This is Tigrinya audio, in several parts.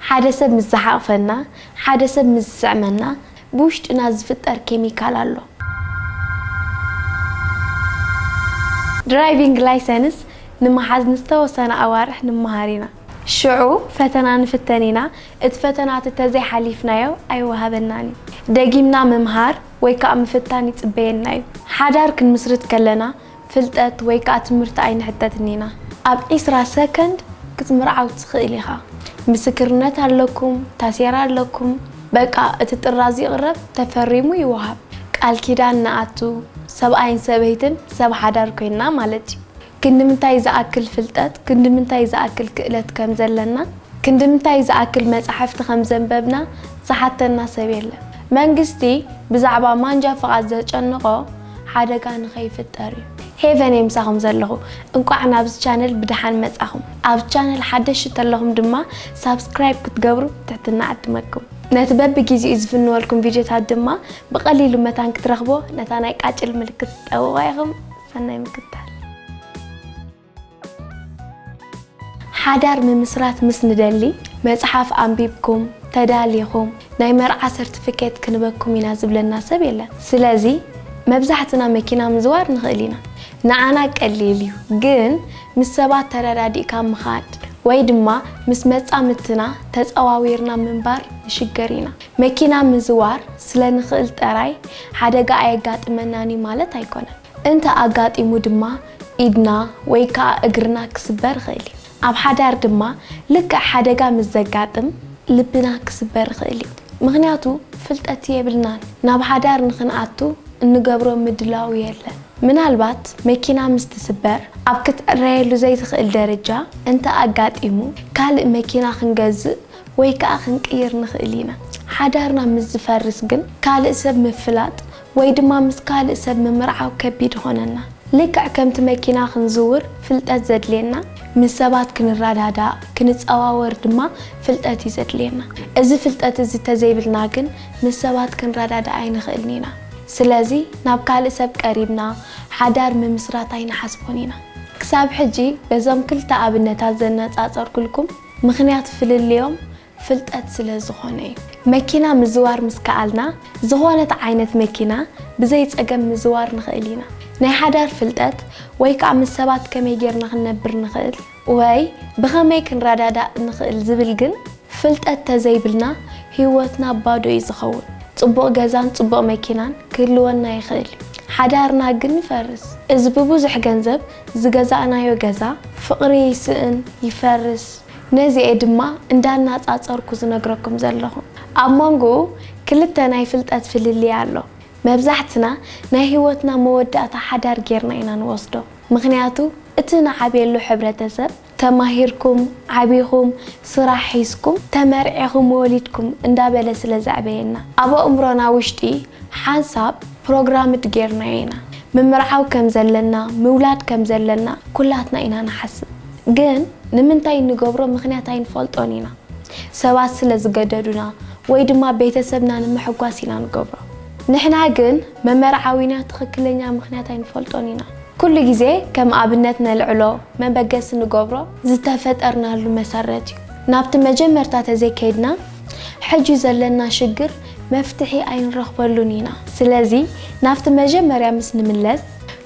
ሓደ ሰብ ምስ ዝሓቕፈና፣ ሓደ ሰብ ምስ ዝስዕመና፣ ብውሽጥና ዝፍጠር ኬሚካል ኣሎ። ድራይቪንግ ላይሰንስ ንምሓዝ ንዝተወሰና ኣዋርሕ ንመሃር ኢና። ሽዑ ፈተና ንፍተን ኢና፣ እቲ ፈተና ተተዘይ ሓሊፍናዮ ኣይወሃበናን እዩ። ደጊምና ምምሃር ወይ ከኣ ምፍታን ይጽበየና እዩ። ሓዳር ክንምስርት ከለና፣ ፍልጠት ወይ ከኣ ትምህርቲ ኣይንሕተትን ኢና። ኣብ ዕስራ ሰከንድ ክትምርዓው ትኽእል ኢኻ። ምስክርነት ኣለኩም፣ ታሴራ ኣለኩም፣ በቃ እቲ ጥራዝ ይቕረብ ተፈሪሙ ይወሃብ። ቃል ኪዳን ንኣቱ፣ ሰብኣይን ሰበይትን ሰብ ሓዳር ኮይንና ማለት እዩ። ክንድምንታይ ዝኣክል ፍልጠት፣ ክንድምንታይ ዝኣክል ክእለት ከም ዘለና፣ ክንድምንታይ ዝኣክል መጻሕፍቲ ከም ዘንበብና ዝሓተና ሰብ የለን። መንግስቲ ብዛዕባ ማንጃ ፍቓድ ዘጨንቖ፣ ሓደጋ ንከይፍጠር እዩ። ሄቨን እየ ምሳኹም ዘለኹ እንቋዕ ናብዚ ቻነል ብደሓን መጻኹም ኣብ ቻነል ሓደሽቲ ተለኹም ድማ ሳብስክራይብ ክትገብሩ ብትሕትና እዕድመኩም ነቲ በብጊዜኡ ዝፍንወልኩም ቪድዮታት ድማ ብቐሊሉ መታን ክትረኽቦ ነታ ናይ ቃጭል ምልክት ትጠውቑዋ ኢኹም ሰናይ ምክትታል ሓዳር ምምስራት ምስ ንደሊ መጽሓፍ ኣንቢብኩም ተዳሊኹም ናይ መርዓ ሰርትፍኬት ክንበኩም ኢና ዝብለና ሰብ የለን። ስለዚ መብዛሕትና መኪና ምዝዋር ንኽእል ኢና። ንዓና ቀሊል እዩ። ግን ምስ ሰባት ተረዳዲእካ ምኻድ ወይ ድማ ምስ መጻምድትና ተጸዋዊርና ምንባር ንሽገር ኢና። መኪና ምዝዋር ስለንኽእል ጠራይ ሓደጋ ኣየጋጥመናን እዩ ማለት ኣይኮነን። እንተ ኣጋጢሙ ድማ ኢድና ወይ ከኣ እግርና ክስበር ይኽእል እዩ። ኣብ ሓዳር ድማ ልክዕ ሓደጋ ምስ ዘጋጥም ልብና ክስበር ይኽእል እዩ። ምኽንያቱ ፍልጠት የብልናን። ናብ ሓዳር ንኽንኣቱ እንገብሮ ምድላው የለን። ምናልባት መኪና ምስ ትስበር ኣብ ክትዕረየሉ ዘይትኽእል ደረጃ እንተ ኣጋጢሙ ካልእ መኪና ክንገዝእ ወይ ከኣ ክንቅይር ንኽእል ኢና። ሓዳርና ምስ ዝፈርስ ግን ካልእ ሰብ ምፍላጥ ወይ ድማ ምስ ካልእ ሰብ ምምርዓው ከቢድ ይኾነና። ልክዕ ከምቲ መኪና ክንዝውር ፍልጠት ዘድልየና፣ ምስ ሰባት ክንረዳዳእ፣ ክንጸዋወር ድማ ፍልጠት እዩ ዘድልየና። እዚ ፍልጠት እዚ እንተዘይብልና ግን ምስ ሰባት ክንረዳዳእ ኣይንኽእልን ኢና። ስለዚ ናብ ካልእ ሰብ ቀሪብና ሓዳር ምምስራት ኣይንሓስቦን ኢና። ክሳብ ሕጂ በዞም ክልተ ኣብነታት ዘነጻጸርኩልኩም ምኽንያት ፍልልዮም፣ ፍልጠት ስለ ዝኾነ እዩ። መኪና ምዝዋር ምስ ከኣልና ዝኾነት ዓይነት መኪና ብዘይ ጸገም ምዝዋር ንኽእል ኢና። ናይ ሓዳር ፍልጠት ወይ ከኣ ምስ ሰባት ከመይ ጌርና ክንነብር ንኽእል ወይ ብኸመይ ክንረዳዳእ ንኽእል ዝብል ግን ፍልጠት ተዘይብልና ህይወትና ባዶ እዩ ዝኸውን። ጽቡቕ ገዛን ጽቡቕ መኪናን ክህልወና ይኽእል እዩ፣ ሓዳርና ግን ይፈርስ። እዚ ብብዙሕ ገንዘብ ዝገዛእናዮ ገዛ ፍቕሪ ይስእን፣ ይፈርስ። ነዚ'የ ድማ እንዳናጻጸርኩ ዝነግረኩም ዘለኹ። ኣብ ሞንጎኡ ክልተ ናይ ፍልጠት ፍልልይ ኣሎ። መብዛሕትና ናይ ህይወትና መወዳእታ ሓዳር ጌርና ኢና ንወስዶ። ምኽንያቱ እቲ ንዓብየሉ ሕብረተሰብ ተማሂርኩም፣ ዓቢኹም፣ ስራሕ ሒዝኩም፣ ተመርዒኹም፣ ወሊድኩም እንዳበለ ስለ ዘዕበየና። ኣብ ኣእምሮና ውሽጢ ሓንሳብ ፕሮግራምድ ጌርናዮ ኢና። ምምርዓው ከም ዘለና፣ ምውላድ ከም ዘለና ኩላትና ኢና ንሓስብ። ግን ንምንታይ እንገብሮ ምኽንያት ኣይንፈልጦን ኢና። ሰባት ስለ ዝገደዱና ወይ ድማ ቤተሰብና ንምሕጓስ ኢና ንገብሮ። ንሕና ግን መመርዓዊና ትኽክለኛ ምኽንያት ኣይንፈልጦን ኢና። ኩሉ ግዜ ከም ኣብነት ነልዕሎ መበገሲ ንገብሮ ዝተፈጠርናሉ መሰረት እዩ። ናብቲ መጀመርታ ተዘይከይድና ሕጂ ዘለና ሽግር መፍትሒ ኣይንረኽበሉን ኢና። ስለዚ ናብቲ መጀመርያ ምስ ንምለስ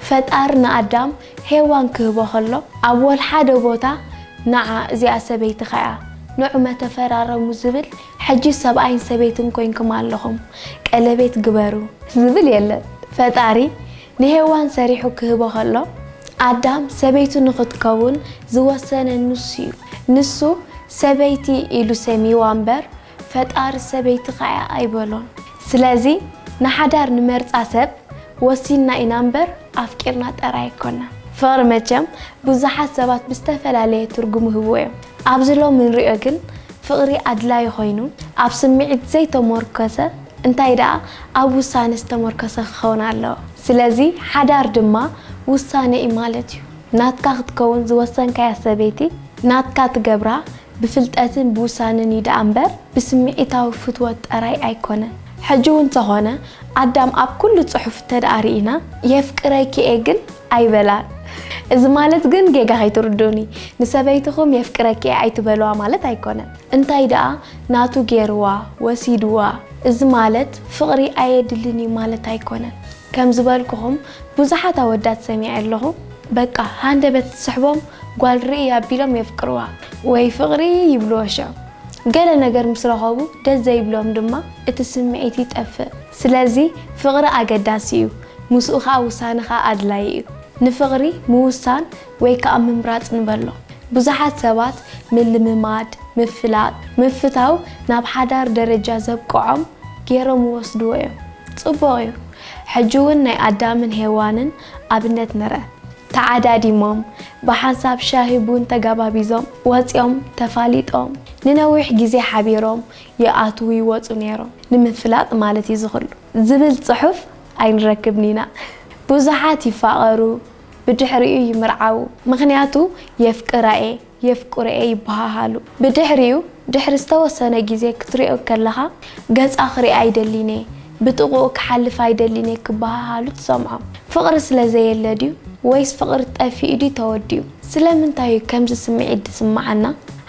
ፈጣሪ ንኣዳም ሄዋን ክህቦ ከሎ ኣብ ወልሓደ ቦታ ንዓ እዚኣ ሰበይትኻ እያ ንዑመ ተፈራረሙ ዝብል ሕጂ ሰብኣይን ሰበይትን ኮይንኩም ኣለኹም ቀለቤት ግበሩ ዝብል የለን ፈጣሪ ንሄዋን ሰሪሑ ክህቦ ከሎ ኣዳም ሰበይቱ ንኽትከውን ዝወሰነ ንሱ እዩ ንሱ ሰበይቲ ኢሉ ሰምይዋ እምበር ፈጣሪ ሰበይትኻ እያ ኣይበሎን። ስለዚ ንሓዳር ንመርጻ ሰብ ወሲንና ኢና እምበር ኣፍቂርና ጠራይ ኣይኮናን። ፍቕሪ መቸም ብዙሓት ሰባት ብዝተፈላለየ ትርጉም ይህብዎ እዮም። ኣብዚ ሎሚ እንሪኦ ግን ፍቕሪ ኣድላዪ ኮይኑ ኣብ ስምዒት ዘይተሞርከሰ እንታይ ደኣ ኣብ ውሳነ ዝተሞርከሰ ክኸውን ኣለዎ። ስለዚ ሓዳር ድማ ውሳነ እዩ ማለት እዩ። ናትካ ክትከውን ዝወሰንካያ ሰበይቲ ናትካ ትገብራ፣ ብፍልጠትን ብውሳነን እዩ ደኣ እምበር ብስምዒታዊ ፍትወት ጠራይ ኣይኮነን። ሕጂ እውን ተኾነ ኣዳም ኣብ ኩሉ ጽሑፍ እተደኣ ርኢና የፍቅረኪ እየ ግን ኣይበላን። እዚ ማለት ግን ጌጋ ከይትርዱኡኒ ንሰበይትኹም የፍቅረኪ እየ ኣይትበልዋ ማለት ኣይኮነን። እንታይ ደኣ ናቱ ገይርዋ፣ ወሲድዋ፣ እዚ ማለት ፍቕሪ ኣየድልን እዩ ማለት ኣይኮነን። ከም ዝበልኩኹም ብዙሓት ኣወዳት ሰሚዐ ኣለኹ በቃ ሃንደበት ትስሕቦም ጓል ርእይ ኣቢሎም የፍቅርዋ ወይ ፍቕሪ ይብልዎ ሸም ገለ ነገር ምስ ረኸቡ ደስ ዘይብሎም ድማ እቲ ስምዒት ይጠፍእ ስለዚ ፍቕሪ ኣገዳሲ እዩ ምስኡ ኸኣ ውሳነኻ ኣድላይ እዩ ንፍቕሪ ምውሳን ወይ ከኣ ምምራጽ ንበሎ። ብዙሓት ሰባት ምልምማድ፣ ምፍላጥ፣ ምፍታው ናብ ሓዳር ደረጃ ዘብቅዖም ጌሮም ይወስድዎ እዮም። ጽቡቕ እዩ። ሕጂ ውን ናይ ኣዳምን ሄዋንን ኣብነት ንርእ። ተዓዳዲሞም፣ ብሓንሳብ ሻሂ ቡን ተጋባቢዞም፣ ወጺኦም፣ ተፋሊጦም፣ ንነዊሕ ግዜ ሓቢሮም ይኣትዉ ይወጹ ኔሮም። ንምፍላጥ ማለት እዩ እዚ ኩሉ። ዝብል ጽሑፍ ኣይንረክብን ኢና። ብዙሓት ይፋቐሩ፣ ብድሕሪኡ ይምርዓዉ ምኽንያቱ የፍቅራ'የ የፍቅሮ'የ ይበሃሃሉ ብድሕሪኡ ድሕሪ ዝተወሰነ ግዜ ክትሪኦ ከለኻ ገጻ ክሪኣ ኣይደልን'የ ብጥቕኡ ክሓልፍ ኣይደልን'የ ክበሃሃሉ ትሰምዖም ፍቕሪ ስለ ዘየለ ድዩ ወይስ ፍቕሪ ጠፊኡ ድዩ ተወዲኡ? ስለምንታይ'ዩ ከምዚ ስምዒት ዝስምዓና?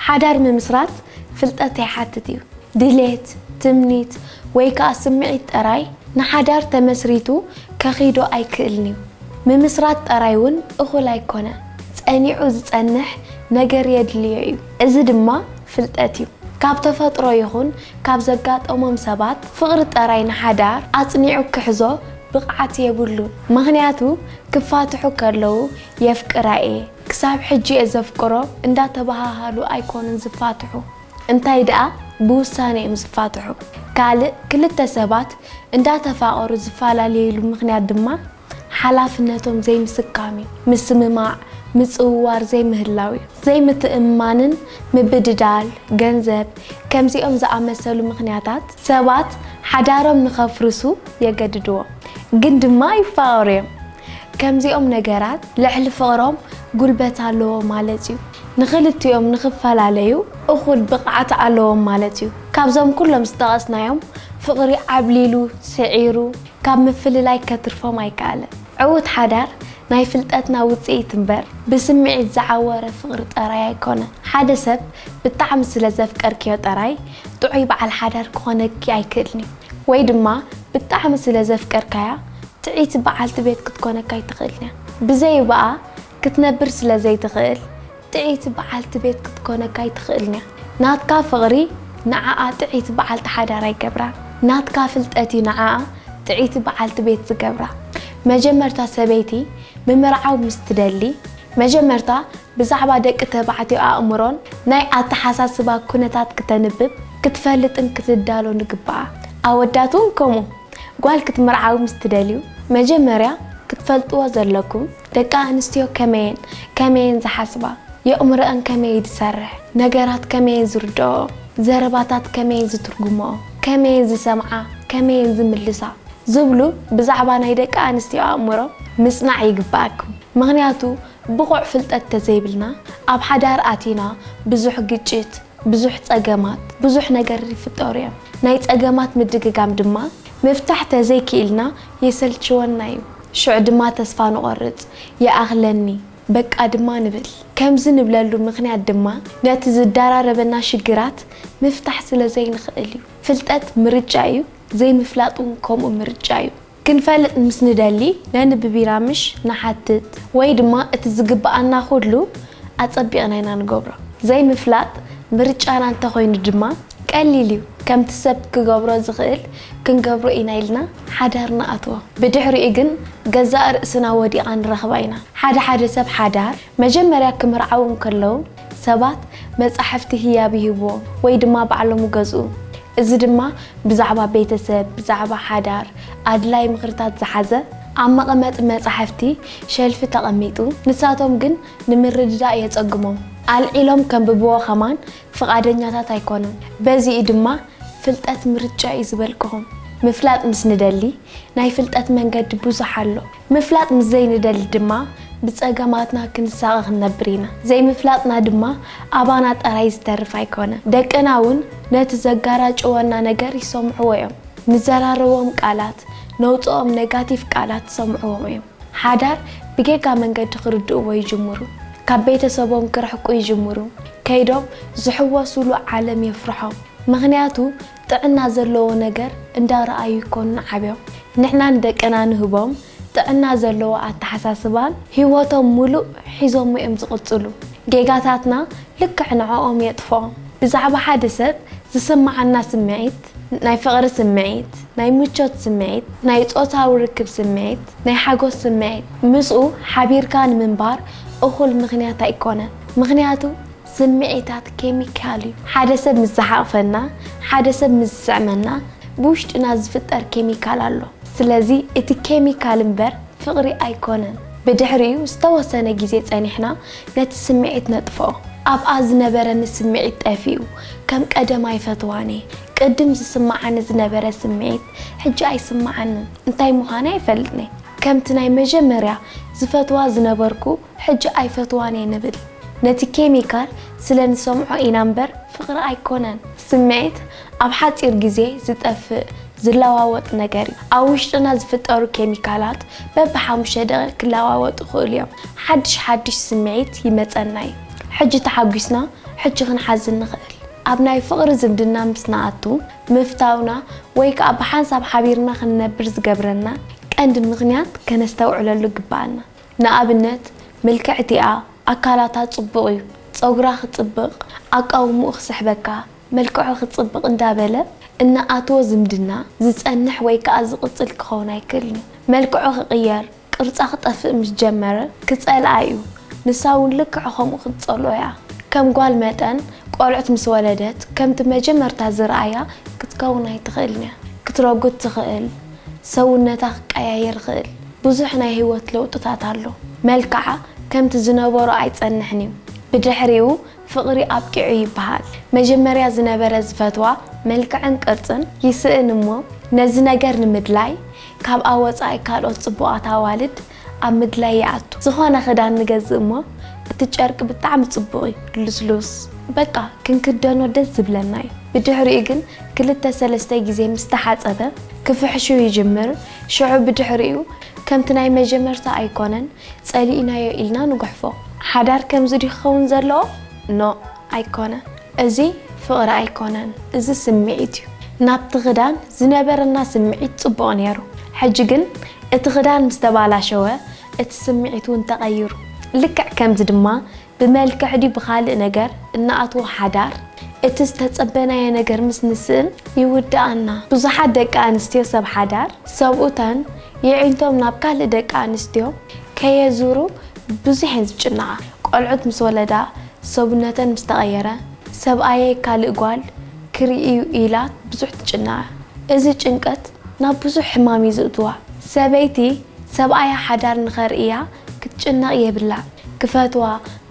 ሓዳር ምምስራት ፍልጠት ይሓትት'ዩ ድሌት ትምኒት ወይ ከኣ ስምዒት ጠራይ ንሓዳር ተመስሪቱ ከኺዶ ኣይክእልን'ዩ። ምምስራት ጠራይ ውን እኹል ኣይኮነ፣ ጸኒዑ ዝጸንሕ ነገር የድልዮ'ዩ። እዚ ድማ ፍልጠት'ዩ። ካብ ተፈጥሮ ይኹን ካብ ዘጋጠሞም ሰባት ፍቕሪ ጠራይ ንሓዳር ኣጽኒዑ ክሕዞ ብቕዓት የብሉን። ምኽንያቱ ክፋትሑ ከለዉ የፍቅራ'የ፣ ክሳብ ሕጂ'የ ዘፍቅሮ እንዳተበሃሃሉ ኣይኮኑን ዝፋትሑ። እንታይ ደኣ ብውሳኔ'ዮም ዝፋትሑ። ካልእ ክልተ ሰባት እንዳተፋቐሩ ዝፈላለዩሉ ምኽንያት ድማ ሓላፍነቶም ዘይምስካም'ዩ። ምስምማዕ፣ ምጽውዋር ዘይምህላው'ዩ። ዘይምትእምማንን ምብድዳል ገንዘብ ከምዚኦም ዝኣመሰሉ ምኽንያታት ሰባት ሓዳሮም ንኸፍርሱ የገድድዎም። ግን ድማ ይፋቐሩ'ዮም። ከምዚኦም ነገራት ልዕሊ ፍቕሮም ጉልበት ኣለዎም ማለት እዩ። ንኽልቲኦም ንኽፈላለዩ እኹል ብቕዓት ኣለዎም ማለት እዩ። ካብዞም ኩሎም ዝጠቐስናዮም ፍቕሪ ዓብሊሉ፣ ስዒሩ፣ ካብ ምፍልላይ ከትርፎም ኣይከኣለን። ዕዉት ሓዳር ናይ ፍልጠትና ውጽኢት እምበር ብስምዒት ዝዓወረ ፍቕሪ ጠራይ ኣይኮነን። ሓደ ሰብ ብጣዕሚ ስለ ዘፍቀርክዮ ጠራይ ጥዑይ በዓል ሓዳር ክኾነኪ ኣይክእልን'ዩ። ወይ ድማ ብጣዕሚ ስለ ዘፍቀርካያ ጥዕይቲ በዓልቲ ቤት ክትኮነካ ኣይትኽእልን እያ። ብዘይብኣ ክትነብር ስለ ዘይትኽእል ጥዕይቲ በዓልቲ ቤት ክትኮነካ ኣይትኽእልን እያ። ናትካ ፍቕሪ ንዓኣ ጥዕይቲ በዓልቲ ሓዳር ኣይገብራን። ናትካ ፍልጠት እዩ ንዓኣ ጥዕይቲ በዓልቲ ቤት ዝገብራ። መጀመርታ ሰበይቲ ምምርዓው ምስ ትደሊ፣ መጀመርታ ብዛዕባ ደቂ ተባዕትዮ ኣእምሮን ናይ ኣተሓሳስባ ኩነታት ክተንብብ፣ ክትፈልጥን ክትዳሎን ይግባኣ። ኣወዳት እውን ከምኡ። ጓል ክትምርዓዉ ምስ ትደልዩ፣ መጀመርያ ክትፈልጥዎ ዘለኩም፣ ደቂ ኣንስትዮ ከመይን፣ ከመይን ዝሓስባ፣ የእምሮኣን ከመይ ዝሰርሕ፣ ነገራት ከመይን ዝርድኦኦ፣ ዘረባታት ከመይን ዝትርጉምኦ፣ ከመይን ዝሰምዓ፣ ከመይን ዝምልሳ፣ ዝብሉ ብዛዕባ ናይ ደቂ ኣንስትዮ ኣእምሮ ምጽናዕ ይግባኣኩም። ምኽንያቱ ብቑዕ ፍልጠት ተዘይብልና ኣብ ሓዳር ኣቲና ብዙሕ ግጭት፣ ብዙሕ ጸገማት፣ ብዙሕ ነገር ይፍጠሩ እዮም። ናይ ጸገማት ምድግጋም ድማ ምፍታሕ ተዘይኪኢልና የሰልችወና እዩ። ሽዑ ድማ ተስፋ ንቖርጽ፣ ይኣኽለኒ በቃ ድማ ንብል። ከምዚ ንብለሉ ምኽንያት ድማ ነቲ ዝዳራረበና ሽግራት ምፍታሕ ስለዘይንኽእል እዩ። ፍልጠት ምርጫ እዩ፣ ዘይምፍላጥ እውን ከምኡ ምርጫ እዩ። ክንፈልጥ ምስ ንደሊ ነንብብ ኢና ምሽ ንሓትት ወይ ድማ እቲ ዝግብኣና ኩሉ ኣጸቢቕና ኢና ንገብሮ። ዘይምፍላጥ ምርጫና እንተኾይኑ ድማ ቀሊል እዩ ከምቲ ሰብ ክገብሮ ዝኽእል ክንገብሮ ኢና ኢልና ሓዳር ንኣትዎ። ብድሕሪኡ ግን ገዛእ ርእስና ወዲቓ ንረኽባ ኢና። ሓደ ሓደ ሰብ ሓዳር መጀመርያ ክምርዓዉ እንከለዉ፣ ሰባት መጻሕፍቲ ህያብ ይህብዎ ወይ ድማ ባዕሎም ይገዝኡ። እዚ ድማ ብዛዕባ ቤተሰብ፣ ብዛዕባ ሓዳር፣ ኣድላዪ ምኽርታት ዝሓዘ ኣብ መቐመጢ መጻሕፍቲ፣ ሸልፊ፣ ተቐሚጡ፣ ንሳቶም ግን ንምርድዳእ የጸግሞም። ኣልዒሎም ከንብብዎ ከማን ፍቓደኛታት ኣይኮኑን። በዚ እዩ ድማ ፍልጠት ምርጫ እዩ ዝበልክኹም። ምፍላጥ ምስ ንደሊ ናይ ፍልጠት መንገዲ ብዙሕ ኣሎ። ምፍላጥ ምስ ዘይንደሊ ድማ ብጸገማትና ክንሳቐ ክንነብር ኢና። ዘይምፍላጥና ድማ ኣባና ጥራይ ዝተርፍ ኣይኮነን። ደቅና እውን ነቲ ዘጋራጭወና ነገር ይሰምዕዎ እዮም። ንዘራረቦም ቃላት፣ ነውጽኦም ነጋቲቭ ቃላት ዝሰምዕዎም እዮም። ሓዳር ብጌጋ መንገዲ ክርድእዎ ይጅምሩ። ካብ ቤተሰቦም ክርሕቁ ይጅምሩ። ከይዶም ዝሕወሱሉ ዓለም የፍርሖም። ምኽንያቱ ጥዕና ዘለዎ ነገር እንዳረኣዩ ይኮኑ ዓብዮም ንሕና ንደቅና ንህቦም ጥዕና ዘለዎ ኣተሓሳስባን ሂወቶም ሙሉእ ሒዞሞ እዮም ዝቅፅሉ ጌጋታትና ልክዕ ንዖኦም የጥፍኦ ብዛዕባ ሓደ ሰብ ዝስማዓና ስሚዒት ናይ ፍቅሪ ስሚዒት ናይ ምቾት ስሚዒት ናይ ፆታዊ ርክብ ስሚዒት ናይ ሓጎስ ስሚዒት ምስኡ ሓቢርካ ንምንባር እኩል ምክንያት ኣይኮነን ምክንያቱ ስምዒታት ኬሚካል እዩ። ሓደ ሰብ ምስ ዝሓቕፈና፣ ሓደ ሰብ ምስ ዝስዕመና ብውሽጥና ዝፍጠር ኬሚካል ኣሎ። ስለዚ እቲ ኬሚካል እምበር ፍቕሪ ኣይኮነን። ብድሕሪኡ ዝተወሰነ ግዜ ጸኒሕና ነቲ ስምዒት ነጥፍኦ። ኣብኣ ዝነበረኒ ስምዒት ጠፊኡ፣ ከም ቀደም ኣይፈትዋን እየ። ቅድም ዝስምዓኒ ዝነበረ ስምዒት ሕጂ ኣይስምዓንን፣ እንታይ ምዃነ ኣይፈልጥን እየ። ከምቲ ናይ መጀመርያ ዝፈትዋ ዝነበርኩ ሕጂ ኣይፈትዋን እየ ንብል ነቲ ኬሚካል ስለ ንሰምዖ ኢና እምበር ፍቅሪ ኣይኮነን። ስምዒት ኣብ ሓጺር ግዜ ዝጠፍእ ዝለዋወጥ ነገር እዩ። ኣብ ውሽጥና ዝፍጠሩ ኬሚካላት በቢ ሓሙሽተ ደቂቅ ክለዋወጡ ይኽእሉ እዮም። ሓድሽ ሓድሽ ስምዒት ይመጸና እዩ። ሕጂ ተሓጒስና ሕጂ ክንሓዝን ንኽእል። ኣብ ናይ ፍቅሪ ዝምድና ምስ ንኣቱ ምፍታውና ወይ ከኣ ብሓንሳብ ሓቢርና ክንነብር ዝገብረና ቀንዲ ምኽንያት ከነስተውዕለሉ ግብኣና። ንኣብነት ምልክዕቲ'ያ ኣካላታ ጽቡቅ እዩ ጸጉራ ክጽብቅ ኣቃውምኡ ክስሕበካ መልክዑ ክጽብቅ እንዳ በለ እንኣትዎ ዝምድና ዝጸንሕ ወይ ከኣ ዝቅጽል ክከውን ኣይክእልን መልክዑ ክቅየር ቅርጻ ክጠፍእ ምስ ጀመረ ክጸልኣ እዩ ንሳ ውን ልክዕ ከምኡ ክትጸልኦ እያ ከም ጓል መጠን ቆልዑት ምስ ወለደት ከምቲ መጀመርታ ዝርኣያ ክትከውን ኣይትክእልን እያ ክትረጉድ ትክእል ሰውነታ ክቀያየር ይክእል ብዙሕ ናይ ህይወት ለውጥታት ኣሎ። መልክዓ ከምቲ ዝነበሮ ኣይጸንሕን እዩ። ብድሕሪኡ ፍቕሪ ኣብቂዑ ይበሃል። መጀመርያ ዝነበረ ዝፈትዋ መልክዕን ቅርጽን ይስእን እሞ ነዚ ነገር ንምድላይ ካብኣ ወጻኢ ካልኦት ጽቡቓት ኣዋልድ ኣብ ምድላይ ይኣቱ። ዝኾነ ክዳን ንገዝእ እሞ እቲ ጨርቂ ብጣዕሚ ጽቡቕ እዩ፣ ልስሉስ፣ በቃ ክንክደኖ ደስ ዝብለና እዩ። ብድሕሪኡ ግን ክልተ ሰለስተ ግዜ ምስ ተሓጸበ ክፍሕሹ ይጅምር። ሽዑ ብድሕሪኡ ከምቲ ናይ መጀመርታ ኣይኮነን ጸሊእናዮ ኢልና ንጉሕፎ። ሓዳር ከምዚ ድዩ ክኸውን ዘለዎ? ኖእ ኣይኮነ እዚ ፍቕሪ ኣይኮነን እዚ ስምዒት እዩ። ናብቲ ክዳን ዝነበረና ስምዒት ጽቡቕ ኔሩ ሕጂ ግን እቲ ክዳን ምስ ተባላሸወ እቲ ስምዒት ውን ተቐይሩ ልክዕ ከምዚ ድማ ብመልክዕ ድዩ ብኻልእ ነገር እንኣትዎ ሓዳር፣ እቲ ዝተጸበናዮ ነገር ምስ ንስእን ይውድኣና። ብዙሓት ደቂ ኣንስትዮ ሰብ ሓዳር ሰብኡተን የዒንቶም ናብ ካልእ ደቂ ኣንስትዮ ከየዙሩ ብዙሕ እየን ዝጭነቓ። ቆልዑት ምስ ወለዳ፣ ሰብነተን ምስ ተቐየረ፣ ሰብኣየይ ካልእ ጓል ክርኢ'ዩ ኢላ ብዙሕ ትጭነቐ። እዚ ጭንቀት ናብ ብዙሕ ሕማም እዩ ዝእትዋ። ሰበይቲ ሰብኣያ ሓዳር ንኸርእያ ክትጭነቕ የብላን። ክፈትዋ፣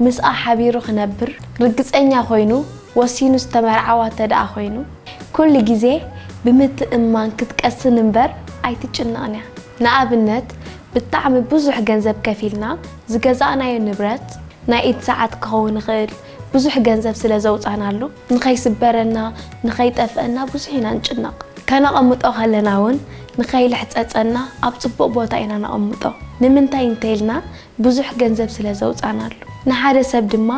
ምስኣ ሓቢሩ ክነብር ርግጸኛ ኮይኑ ወሲኑ ዝተመርዓዋ እተደኣ ኮይኑ፣ ኩሉ ግዜ ብምትእምማን ክትቀስን እምበር ኣይትጭነቕን እያ። ንኣብነት ብጣዕሚ ብዙሕ ገንዘብ ከፊልና ዝገዛእናዮ ንብረት፣ ናይ ኢድ ሰዓት ክኸውን ይኽእል፣ ብዙሕ ገንዘብ ስለ ዘውጻእናሉ፣ ንኸይስበረና፣ ንኸይጠፍኣና ብዙሕ ኢና ንጭነቕ። ከነቐምጦ ከለና እውን ንኸይልሕጸጸና ኣብ ጽቡቕ ቦታ ኢና ነቐምጦ። ንምንታይ እንተኢልና ብዙሕ ገንዘብ ስለ ዘውጻእናሉ። ንሓደ ሰብ ድማ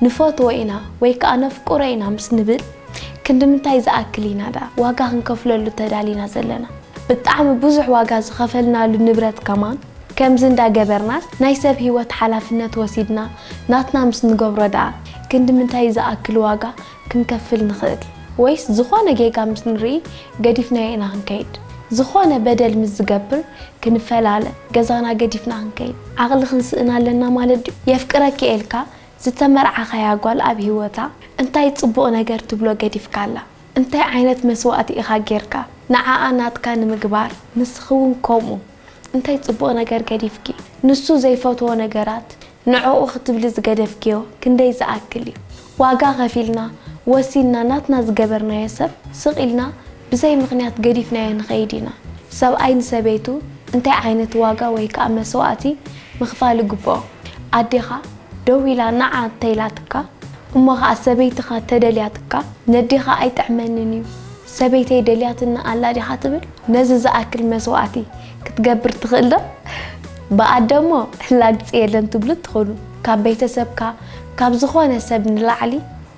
ንፈትዎ ኢና ወይ ከኣ ነፍቅሮ ኢና ምስ ንብል ክንድምንታይ ዝኣክል ኢና ደኣ ዋጋ ክንከፍለሉ ተዳሊና ዘለና? ብጣዕሚ ብዙሕ ዋጋ ዝኸፈልናሉ ንብረት ከማን ከምዚ እንዳ ገበርናስ ናይ ሰብ ህይወት ሓላፍነት ወሲድና ናትና ምስ ንገብሮ ደኣ ክንድምንታይ ዝኣክል ዋጋ ክንከፍል ንኽእል ወይስ ዝኾነ ጌጋ ምስ ንርኢ ገዲፍናዮ ኢና ክንከይድ? ዝኾነ በደል ምስ ዝገብር ክንፈላለ ገዛና ገዲፍና ክንከይድ ዓቕሊ ክንስእን ኣለና ማለት ድዩ? የፍቅረኪ ኤልካ ዝተመርዓኻያ ጓል ኣብ ሂወታ እንታይ ጽቡቕ ነገር ትብሎ ገዲፍካላ? እንታይ ዓይነት መስዋእቲ ኢኻ ጌርካ ንዓኣ ናትካ ንምግባር ንስኺ ውን ከምኡ እንታይ ጽቡቕ ነገር ገዲፍኪ ንሱ ዘይፈትዎ ነገራት ንዕኡ ክትብሊ ዝገደፍክዮ ክንደይ ዝኣክል እዩ? ዋጋ ከፊልና፣ ወሲንና ናትና ዝገበርናዮ ሰብ ስቕ ኢልና ብዘይ ምኽንያት ገዲፍናዮ ንኸይድ ኢና። ሰብኣይ ንሰበይቱ እንታይ ዓይነት ዋጋ ወይ ከኣ መስዋእቲ ምኽፋል ይግብኦ? ኣዴኻ ደው ኢላ ንዓ እንተኢላትካ፣ እሞ ኸኣ ሰበይትኻ እንተደልያትካ፣ ነዴኻ ኣይጥዕመንን እዩ፣ ሰበይተይ ደልያትኒ ኣላ ዲኻ ትብል? ነዚ ዝኣክል መስዋእቲ ክትገብር ትኽእል ዶ? ብኣደ እሞ ላግጺ የለን ትብሉ እትኾኑ። ካብ ቤተሰብካ ካብ ዝኾነ ሰብ ንላዕሊ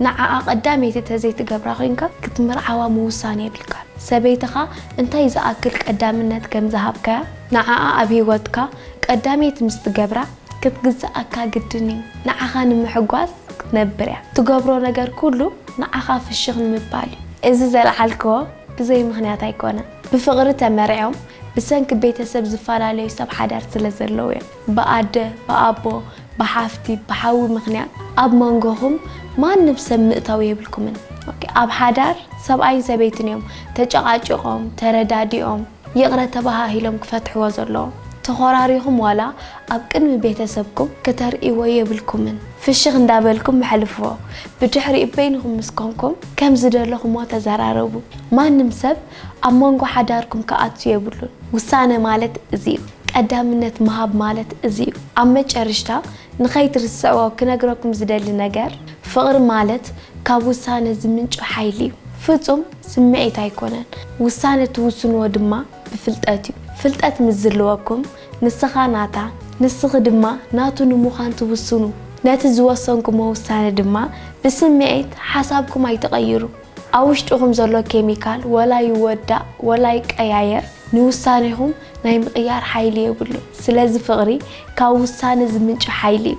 ንዓኣ ቀዳመይቲ ተዘይትገብራ ኮይንካ ክትምርዓዋ ምውሳን የብልካን። ሰበይትኻ እንታይ ዝኣክል ቀዳምነት ከም ዝሃብካያ ንዓኣ ኣብ ህይወትካ ቀዳመይቲ ምስ ትገብራ ክትግዝኣካ ግድን እዩ። ንዓኻ ንምሕጓስ ክትነብር እያ። ትገብሮ ነገር ኩሉ ንዓኻ ፍሽኽ ንምባል እዩ። እዚ ዘልዓልክዎ ብዘይ ምኽንያት ኣይኮነን። ብፍቕሪ ተመርዕዮም ብሰንኪ ቤተሰብ ዝፈላለዩ ሰብ ሓዳር ስለ ዘለዉ እዮም። ብኣደ፣ ብኣቦ፣ ብሓፍቲ፣ ብሓዊ ምኽንያት ኣብ መንጎኹም ማንም ሰብ ምእታው የብልኩምን። ኦኬ ኣብ ሓዳር ሰብኣይን ሰበይትን እዮም ተጨቓጪቖም፣ ተረዳዲኦም፣ ይቕረ ተባሃሂሎም ክፈትሕዎ ዘለዎም። ተኾራሪኹም ዋላ ኣብ ቅድሚ ቤተሰብኩም ክተርእይዎ የብልኩምን። ፍሽኽ እንዳበልኩም ኣሕልፍዎ። ብድሕሪኡ በይንኹም ምስ ኮንኩም ከም ዝደለኹምዎ ተዘራረቡ። ማንም ሰብ ኣብ መንጎ ሓዳርኩም ክኣቱ የብሉን። ውሳነ ማለት እዚ'ዩ። ቀዳምነት ምሃብ ማለት እዚ'ዩ። ኣብ መጨርሽታ ንኸይትርስዕዎ ክነግረኩም ዝደሊ ነገር፣ ፍቕሪ ማለት ካብ ውሳነ ዝምንጩ ሓይሊ'ዩ። ፍጹም ስምዒት ኣይኮነን። ውሳነ ትውስንዎ ድማ ብፍልጠት'ዩ። ፍልጠት ምስ ዝልወኩም፣ ንስኻ ናታ፣ ንስኺ ድማ ናቱ ንምዃን ትውስኑ። ነቲ ዝወሰንኩሞ ውሳነ ድማ ብስምዒት፣ ሓሳብኩም ኣይትቐይሩ። ኣብ ውሽጥኹም ዘሎ ኬሚካል ወላ ይወዳእ ወላ ይቀያየር ንውሳኔኹም ናይ ምቕያር ሓይሊ የብሉን። ስለዚ ፍቕሪ ካብ ውሳነ ዝምንጩ ሓይሊ እዩ።